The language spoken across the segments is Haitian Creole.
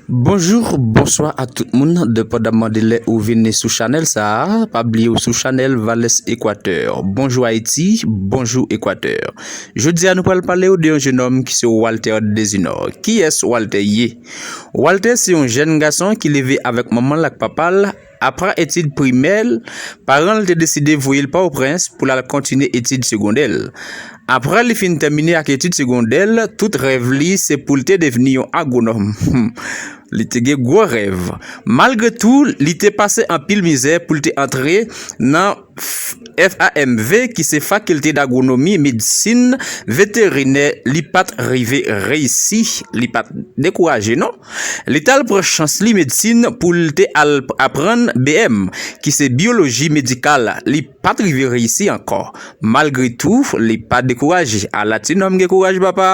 Bonjour bonswa ak tout moun depandaman de lè ou vini sou chanèl sa pa bliye ou sou chanèl vales equateur bonjou ayiti bonjou equateur Jodi a nou pral pale ou de yon jenòm ki se Walter Desinor. Kiyès Walter ye? Walter se yon jèn gason ki leve avèk manman l ak papa l. Apre etid primè l, paran l te deside voye l Pòtoprens pou l al kontinye etid segondè l. Apre li fin tèmine ak etid segondè l, tout rèv li se pou l te devni yon agwonòm. Li te gen gwo rèv. Malgre tou, li te pase anpil mizè pou l te antre nan. FAMV ki se Fakilte Dagwonomi, Medsin Veterinè li pat rive reyisi, li pat dekouraje non. Li t al pran chans li medsin pou l te al aprann BM ki se Byoloji Medikal, li pat rive reyisi ankò. Malgre tou, li pa dekouraje. Ala ti nonm gen kouraj papa!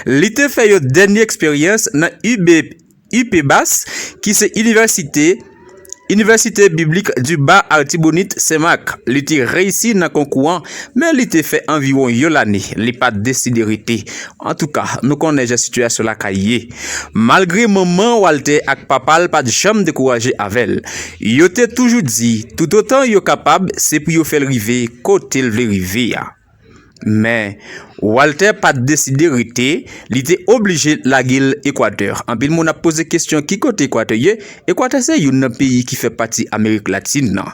Li te fè yon dènye eksperyans nan UBP. UPBAS, ki se inivèsite Université Biblique du Bas Artibonite Sen Mak. Li te reyisi nan konkou an, men li te fè anviwon yon lane li pa t deside rete. Antouka, nou konnen jan sitiyasyon lakay ye. Malgre manman Walter ak papa l pa t janm dekouraje avè l, yo te toujou di toutotan yo kapab se pou yo fè l rive kote l vle rive a. Men, Walter pa t deside rete, li te oblije lage l Ekwatè. Anpil moun ap poze kesyon ki kote Ekwatè ye? Ekwatè se youn nan peyi ki fè pati Amerik Latin nan.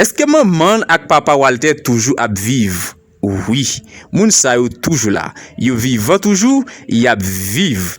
Eske manman l ak papa Walter toujou ap viv? Wi, moun sa yo toujou la. Yo vivan toujou, y ap viv.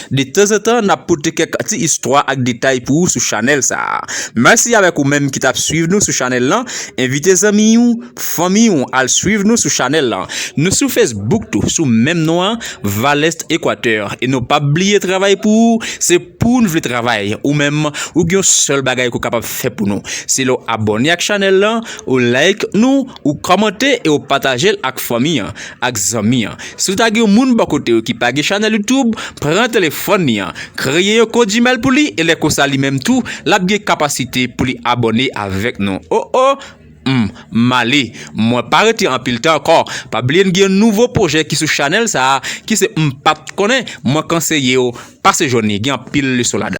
De tanzantan nap pote kèk ti istwa ak detay pou ou sou chanèl sa. Mèsi avèk ou menm ki tap swiv nou sou chanèl lan, envite zanmi ou, fanmi ou al swiv nou sou chanèl lan. Nou sou Facebook tou sou menm non an Valeste Equateur e nou pap bliye travay pou ou se pou'n vle travay ou menm ou gen yon sèl bagay ke w kapab fè pou nou se lè w abòne ak chanèl lan ou like nou Ou kòmante e ou patajel ak fanmi an, ak zanmi an. Si w ta gen yon moun bò kote w ki pa gen chanèl YouTube, pran telefòn li an, kreye yon kont Gmail pou li e lè konsa li menm tou lap gen kapasite pou li abòne avèk nou. O o! M male, mwen pa rete anpil tan ankò. Pa bliye n gen yon nouvo pwojè ki sou chanèl sa a ki se M pat konnen, mwen kanseye w pase jwenn li, gen anpil leson ladan.